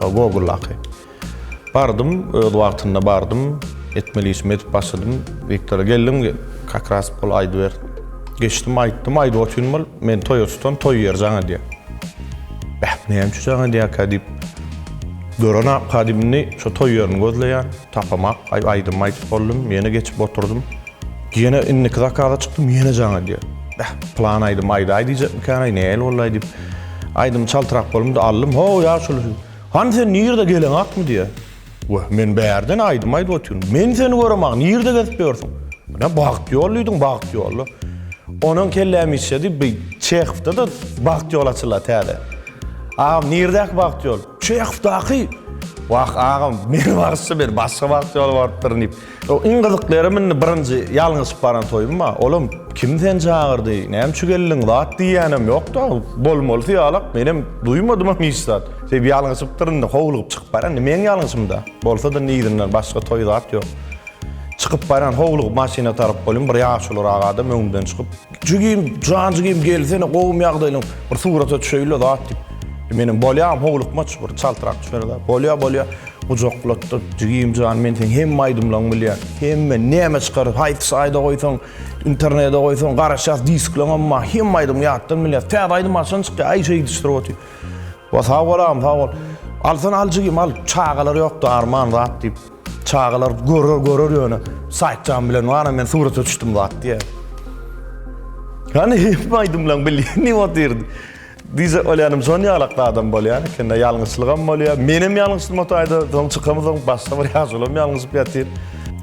Goguldaky. Bardym, öz wagtynda bardym. Etmeli işimi edip başladym. Wiktora geldim, kakras bol aýdyber. Geçdim, aýtdym, aýdyp otyryn bol, men toýa tutan, toý ýeri jaň edýär. Bäh, näme üçin jaň edýärkä diýip, gören-ä, indi şo toý ýerini gözleýän. Tapamak, aý aýdym aýdyp boldum, ýene geçip oturdym. Ýene indiki zakaza çykdym, ýene jaň edýär. Bäh, pylan aýdymy aýdaý diýjekmikänaý, nähili bolaý diýip, aýdymy çaltrak bolumda aldym. Haw, ýaşuly, hany sen nirde geleňakmy diýýär. Wah, men bärden aýdym aýdyp otyryn. Men seni göremok, nirde gezip ýörsüň? Ine, bagt ýol diýdiň, bagt ýol-la. Onuň kelläm işledi, bi Çehowda-da bagt ýol açyla täze. Agam, nirdäki bagt ýol? Çehodaky Wah agam meni barsy ber başga bagt ýoly barypdyryn diýip. Iň gyzykly ýerim indi birinji ýalňyşyp baran toýumma. Olam kim seni çagyrdy, näme üçin geldiň zat diýýänem ýokda. Bolmalysy ýalak menem duýmadymam hiç zat. Sebäbi ýalňyşypdyryn indi howlugyp çykyp barýan indi meň ýalňyşymda. Bolsada indi yzyndan başga toý zat ýok. Çykyp barýan howlugyp maşyna tarap bolýan bir ýaşuluraak adam öňümden çykyp. Jigim jan jigim gelsene gowum ýagdaýlaň bir surata düşeýinle zat diýip. Menem bolýa howlukmaç bir çaltrak düşerler. Bolýa bolýa gujaklatdyk jigim jan men seň hemme aýdymlaň bilýän. Hemme näme çykar haýsy saýda goýsaň internede goýsaň garaşýas diskleňem bar hemme aýdym ýatdan bilýäs. Täze aýdym haçan çykýa aý şeý diýişdirip otyr. Wa sag bol agam sag bol. Alsana al jigim al çagalar ýokda arman zat diýip. Çagalar görer görer ýöne Saitjan bilen ana men surata düşdüm zat diye. Yani hep aýdymlaň bilýän ne otyr. Diýse olýanym şon ýalakda adam bolýan eken de ýalňyşlygam bolýar. Menem ýalňyşdym otaýda soň çykamyzam başda bir ýaşulam ýalňyşyp ýatyr.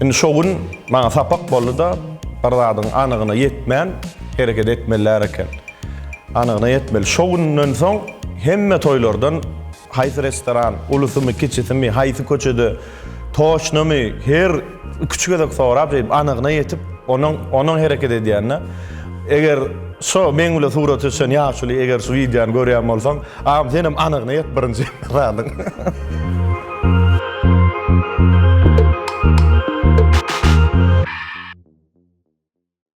Indi şo gün maňa sapak boldy-da bir zadyň anygyna ýetmän hereket etmelilär eken. Anygyna ýetmeli. Şo günden soň hemme toýlardan Haýsy restoran, ulusymy, kiçisimi, haýsy köçede, toçnamy, her iki-üç gezek sorap, şeýdip, anygyna ýetip, onuň, onuň hereket edýänine, eger şo meň bilen surata düşen ýaşuly eger şu wideony görýän bolsaň, agam, senem anygyna ýet birinji zadyň.